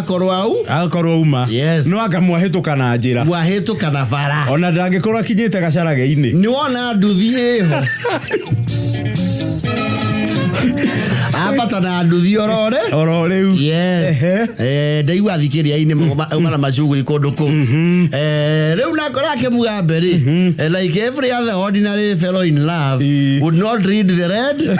akorwo au agakorwo uma Yes. no anga mwahĩtũka na njĩra wahĩtũka na bara ona ndangĩkorwo akinyĩte gacarage-inĩ nĩ wona nduthi ĩho ambata na nduthi orore oro rĩu Yes. Ehe. Eh, ndaigua thikĩria-inĩ mana macuguri kũndũ kũ Eh, rĩu nako rake mugambe rĩ eh, like every other ordinary fellow in love Ii. would not read the red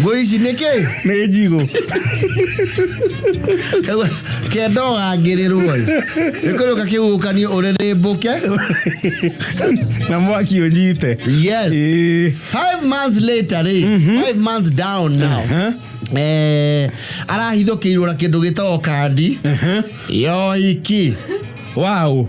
Ngũ ici nĩ kĩ? Nĩ njigũ. Kenda ũgangĩrĩrwo ĩ. Nĩ kũrĩũka kĩhuhũkanio ũrĩrĩmbũke. Na mwaki ũnyite. Yes. Ĩĩ. Five months later rĩ, five months down now. Aha. Eh, arahithũkĩirwo na kĩndũ gĩtagwo kandi. Aha. Yoiki. Wow.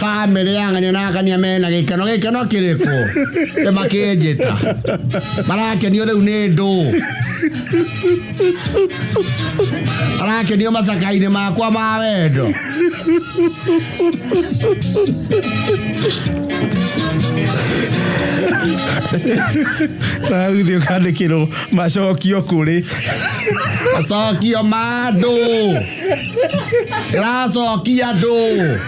bamĩrĩ yang'ania na ang'ania mena gĩkeno gĩkeno kĩrĩkũ nĩ makĩnjĩta marakenio rĩu nĩ ndũ arakenio macakainĩ makwa ma wendo ragithio kandikirwo macokio kuri macokio ma andũ ĩracokia andũ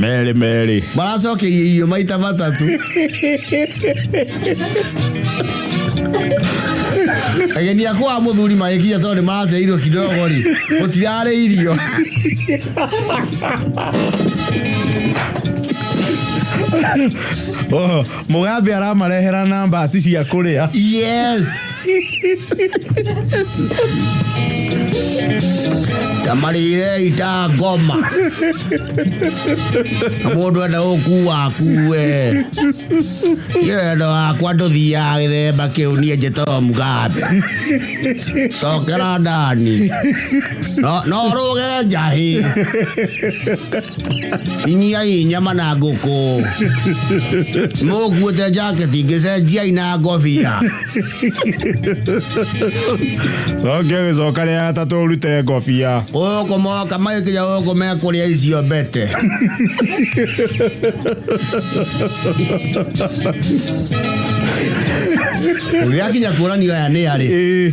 merĩ merĩ maracokeia irio maita matatũ ageni akwa a mũthuri magĩkinya tondũ nĩ maraceirwo kidogo rĩ gũtirarĩ irio Oho, mugambe aramarehera namba aci cia kũrĩa yes tamarire ita ngoma na mundu enda gukua akue iyo endo wakwa nduthiaga githemba kiu nie njitagwo mugambe cokera ndani No- no ruge njahi inyiai nyama na nguku mukuite njaketi ngicenjiai na ngobia Oke gĩcoka rĩa gatatũ ũrute ngobia. Ũkũmoka magĩkinya ũkũmea kũrĩa icio mbete. Ũrĩa kinya kuoranio aya nĩ arĩ. Ĩĩ.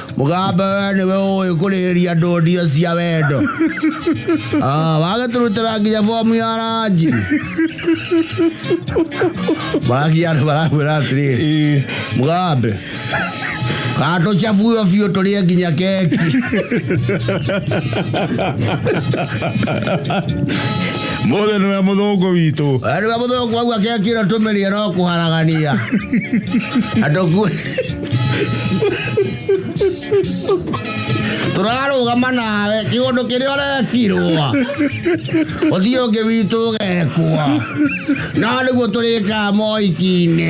mũgambo we nĩwe ũĩ kũrĩrĩria ndũndia cia wendo Ah, wagĩtũrutĩra nginya bomu ya ranji marakia andũ marakwĩra atĩrĩrĩ mũgambe katũcabuo biũ tũrĩe nginya keki mothe nä we må thångå witå Yaani wamuthoko wangu akiakira tumelia no kuharagania. Atokue. tũrarũgama nawe kĩũndũ kĩrĩa ũrekirwo ũthiĩ ũngĩ witũ ũgekua no nĩguo tũrĩkaa moiki-inĩ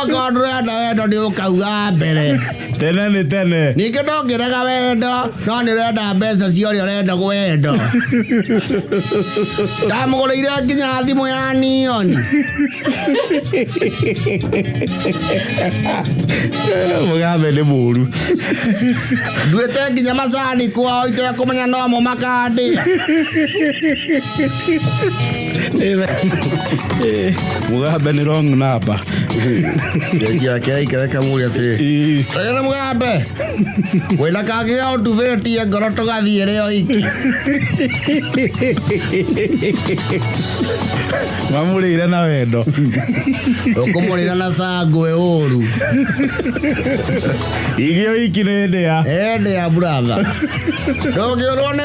okorwo ndũrenda wendo nĩ ũkauga mbere tene nĩ tene ningĩ ndongĩrega wendo no nĩ ũrenda mbeca cia ũrĩa ũrenda wendo ndamũgũrĩire nginya thimũ ya nioni mũgambe nĩ mũru nduĩte nginya macani kwao itekũmenya nomo makandĩa mugambe nä wrong number Jeshi yake aikereka mũrĩ atĩrĩ Ii. rĩrĩ nĩ mũgambe wĩna kangĩ ya ũtubĩtie ngoro tũgathiĩ rĩ o iki mamå rä ire na wendo ũkũmũrĩra na cangwe ũru igä o iki nä ndä ya ende ya buratha ndũngĩũrwo nĩ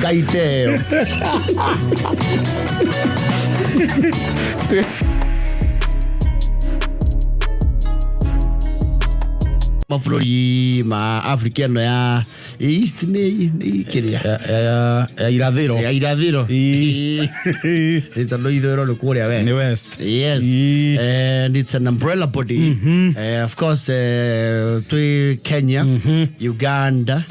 Gaiteo. mabũrũri ma afrika ĩno ya east nĩ nĩ kĩrĩa Ya- ya- ya- ya irathĩro ya irathĩro Ii. Nĩ tondũ ithũĩro nĩ kũrĩa west Nĩ west. yes Ii. and it's an umbrella body Eh, of course eh, twĩ kenya uganda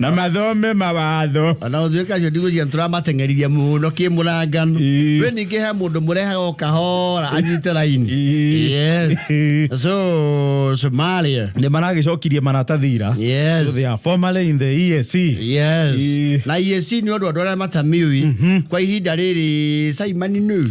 na mathome mawatho ona gũtuĩka acio ndigũcia tũramateng'eririe mũno kĩmũrangano Ĩĩ. we ningĩ he mũndũ mũrehaga o kahora anyite raini Ĩĩ. Yes. so somalia nä maragäcokirie maratathi ira Yes. So they are formerly in the EAC. yes Ĩĩ. na iec nĩ ũndũ andũ arĩa matamiũi kwa ihinda rĩrĩ caimani nĩu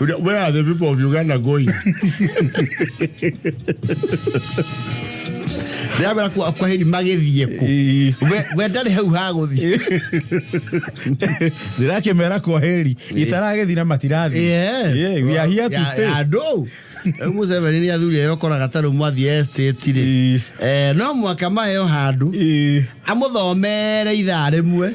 Where are the people of Uganda going? ndĩramera kwa kwa hĩri magĩthiĩ kũ We- we ndarĩ hau ha gũthiĩ ndĩrakĩmera kwa heri itaragĩthi na matirathiĩ Yes. Yeah, we are here to Ya- stay. ya andũ Rĩu Museveni nĩ athuri ayo koraga tarũ mwathiĩ estate rĩ Ĩĩ. Eh, no mwaka mayo handũ Ĩĩ. amũthomere ithaa rĩmwe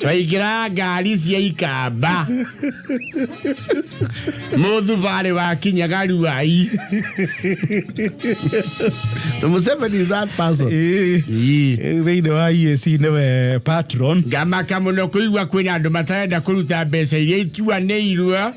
twaingĩra ngari cia ikamba mũthubarĩ wa kinyaga ruai Museveni is that person. Ĩĩ, Ii. thĩinĩ wa EAC nĩwe patron ngamaka mũno kũigua kwĩna andũ matarenda kũruta mbeca iria ituanĩirwo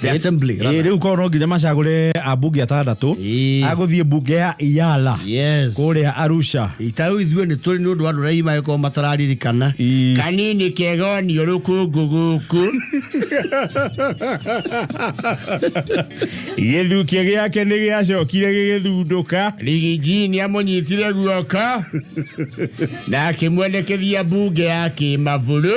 the assembly Ĩĩ, rather. rĩu korwo no nginya macagũre ambunge atandatũ Ĩĩ. agũthiĩ mbunge ya iyala yes kũrĩa arusha itarũ ithuĩ nĩ tũrĩ nĩ ũndũ wa ndũrai magĩkorwo matararirikana Ii. kanini kega onio rũkũngũ gũkũ gĩthukia gĩake nĩ gĩacokire gĩgĩthundũka rigiji nĩ amũnyitire guoko na akĩmwendekithia mbunge ya kĩmaburu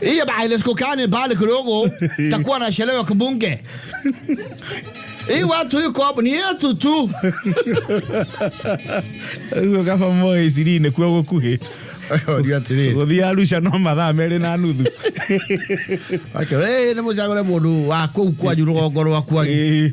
Hiyo bailes kukani bali kidogo takuwa na sherehe ya kibunge. Hii watu hii kopo ni yetu tu. Uguo kaba moe iciri-inĩ kuo gũkuhĩ Ndio atiri. gũthiĩ arusha no mathaa merĩ na nuthu Akira, eh ni mucagure mundu wa kuu kwanyu rugongo rwaku. Ĩĩ.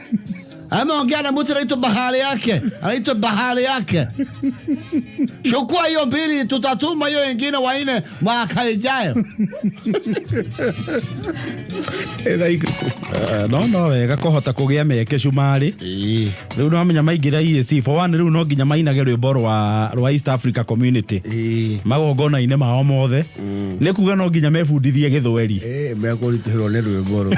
Ah mon gars, la mousse, elle est bahaliak. Elle est bahaliak. Je crois yon biri tout à tout, mayo engine waine, ma kaijayo. no no wega kũhota kũgĩa mĩeke cumarĩ rĩu no menya maingĩra EAC for one rĩu no nginya mainage rwĩmbo rwa rwa East Africa Community magongona-inĩ mao mothe nĩ kuga no nginya mebundithie gĩthweri Eh, me akoritihirwo nĩ rwĩmbo rũ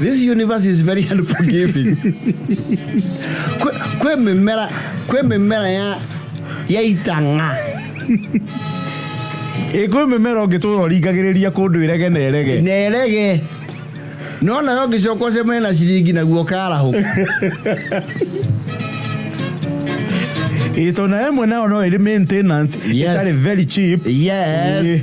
This universe is very unforgiving. Kwe- kwe mĩmera kwĩ mĩmera ya ya itang'a ĩkwĩ mĩmera ũngĩtũra ũringagĩrĩria kũndũ ĩrege na ĩrege nerege no nayo ngĩcoka ũcemane na ciringi naguo karahũka ĩtona ĩmwe nayo no ĩrĩ maintenance Yes. ĩtarĩ very cheap yes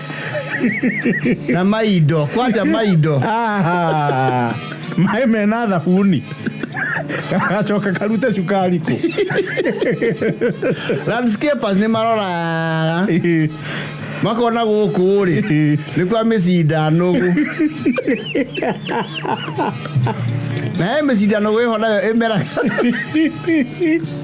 na maindo kwanja maindo Aha. maĩ mena thabuni gacoka karute cukari kũ landscapers nĩ maroraga makona gũkũ rĩ nĩ kwa mĩcinda nũgũ nayo mĩcinda nũgũ ĩho nayo ĩmera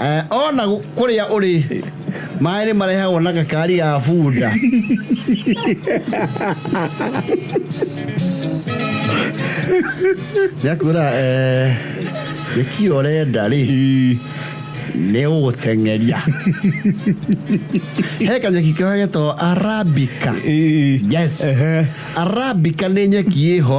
Eh, ona gu- kũrĩa ũrĩ maĩ nĩ marehagwo na gakari ga bunda nĩakwĩra eh, gĩkĩ ũrenda rĩ nĩ ũgũteng'eria he kanyeki kao getagwo arabika yes arabika nĩ nyeki ĩho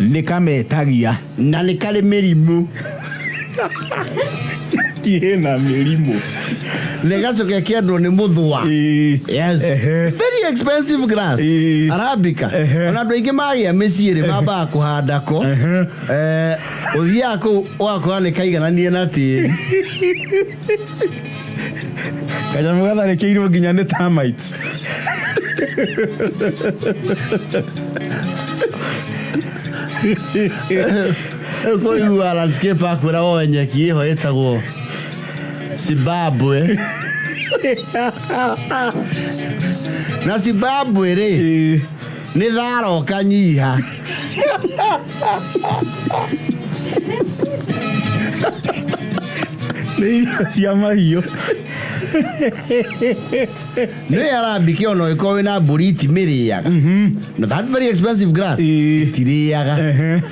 Nĩ kametagia. Na nĩ karĩ mĩrimũ. Tirĩ na mĩrimũ. Nĩ gacoke kĩendwo nĩ mũthũa. Yes. Very expensive grass. Arabica. Ona andũ aingĩ magĩa mĩciĩ rĩ mambaga kũhanda ko. Eh, Ũthiaga kũu ũgakora nĩ kaigananie na tĩri. kanyamũ gatharĩkĩirwo nginya nĩ termites koigua landscape akwĩra woe nyeki ĩho ĩtagwo zimbabwe na zimbabwe rĩ nĩ thara ũkanyiha nĩ irio cia mahiũ nĩ arambike ona ũgĩkorwo wĩna mbũri itimĩrĩaga na that very expensive grass Ĩĩ. itirĩaga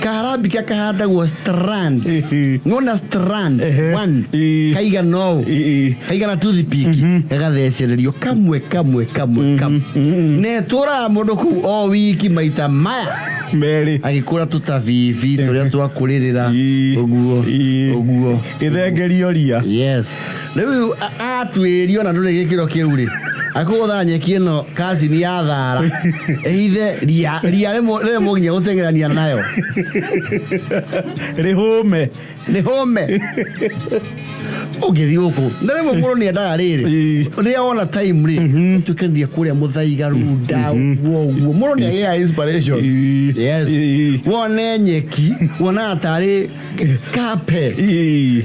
kaharambika kahandagwo strand nona strand Ehe. one Ii. kaigana ũũ Ii. kaigana toothpick gagathecererio kamwe kamwe kamwe kamwe netũraga mũndũ kũu o wiki maita maya merĩ agĩkũra tũtabibi tũrĩa twakũrĩrĩra Ii. ũguo Ii. ũguo gĩthengerio ria yes rĩu a- atuĩrio na ndũrĩ gĩkĩro kĩu rĩ akũgũtha nyeki ĩno kacini ya thara ĩhithe ria ria rĩmũ- rĩrĩmũ nginya gũteng'erania nayo rĩhũme nĩ home ũngĩthiĩ gũkũ na rĩmwe mũndũ nĩ endaga rĩrĩ Ĩĩ. rĩrĩa wona time rĩ tuĩkanĩria kũrĩa mũthaiga runda ũguo ũguo mũndũ nĩ agĩaga inspiration Ĩĩ. yes Ĩĩ. wone nyeki wonaga tarĩ kape Ii.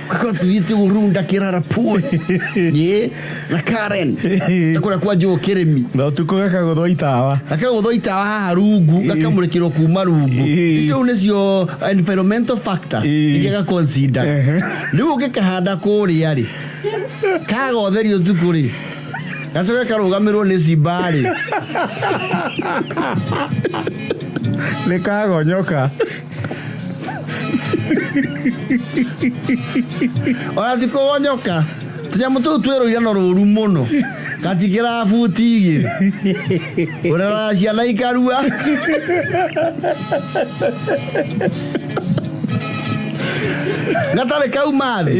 Because thiĩte gũrunda kĩrara puĩ ĩ na Karen takũrĩa kwa njũgũ kĩrĩmi na ũtukũ gakagũthwa itawa gakagũthwa itawa haha rungu gakamũrĩkĩrwo kuma rungu Ĩĩ. icio nĩcio environmental factor Ĩĩ. iria gaconsider Ehe. rĩu ũngĩkahanda kũrĩa rĩ kagotherio thuku rĩ gacoke karũgamĩrwo nĩ cimba rĩ nĩ kagonyoka ona ti kũgonyoka tũnyamũ tũu twĩ rũira no rũru mũno gatikĩra buti igĩrĩ ũrera ciana ikarua gatarĩ kauma thĩ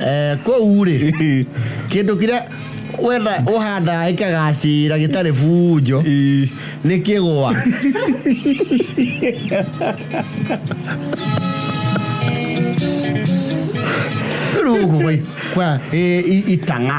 Eh, kũu rĩ kĩndũ kĩrĩa wenda ũhandaga gĩkagacĩra gĩtarĩ bunjo nĩ kĩgwa rĩu gũkũ gwĩ- kwa ĩ- i- itang'a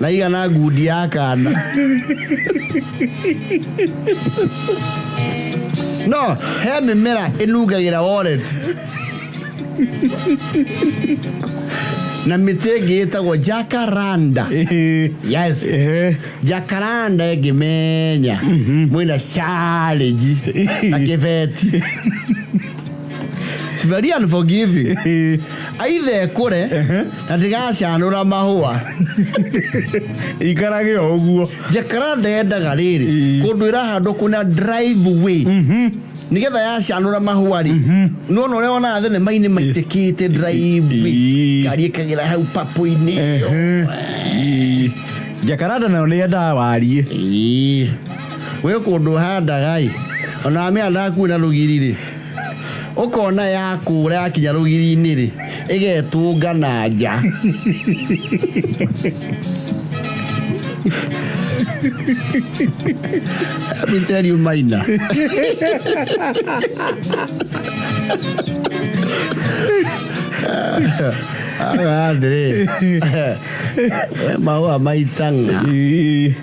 na igana ngundi ya kana no he mĩmera ĩnungagĩra wallet na mĩtĩ ĩngĩ ĩtagwo jacaranda yes Eh. jacaranda ĩngĩmenya mwĩna challenge na kĩbeti It's very unforgiving. Aitha ekũre na ndigacanũra mahũa. ikarage o ũguo Jacaranda yendaga rĩrĩ Ĩĩ. kũndũ ĩrahandwo kwĩna driveway nĩgetha yacanũra mahũa rĩ nona ũrĩa wonaga thenema-inĩ maitĩkĩte driveway Ĩĩ. ngari ĩkagera hau papũ-inĩ ĩyo. Ĩĩ. jakaranda nayo nĩ endaga wariĩ Ĩĩ. we kũndũ ũhandaga ĩ ona amĩhandaga kuo na rũgiri rĩ ũkona ya kũra yakinya rũgiri-inĩ rĩ ĩgetũnga na nja Let me tell you maina aga atĩrĩ we mahũa maitanga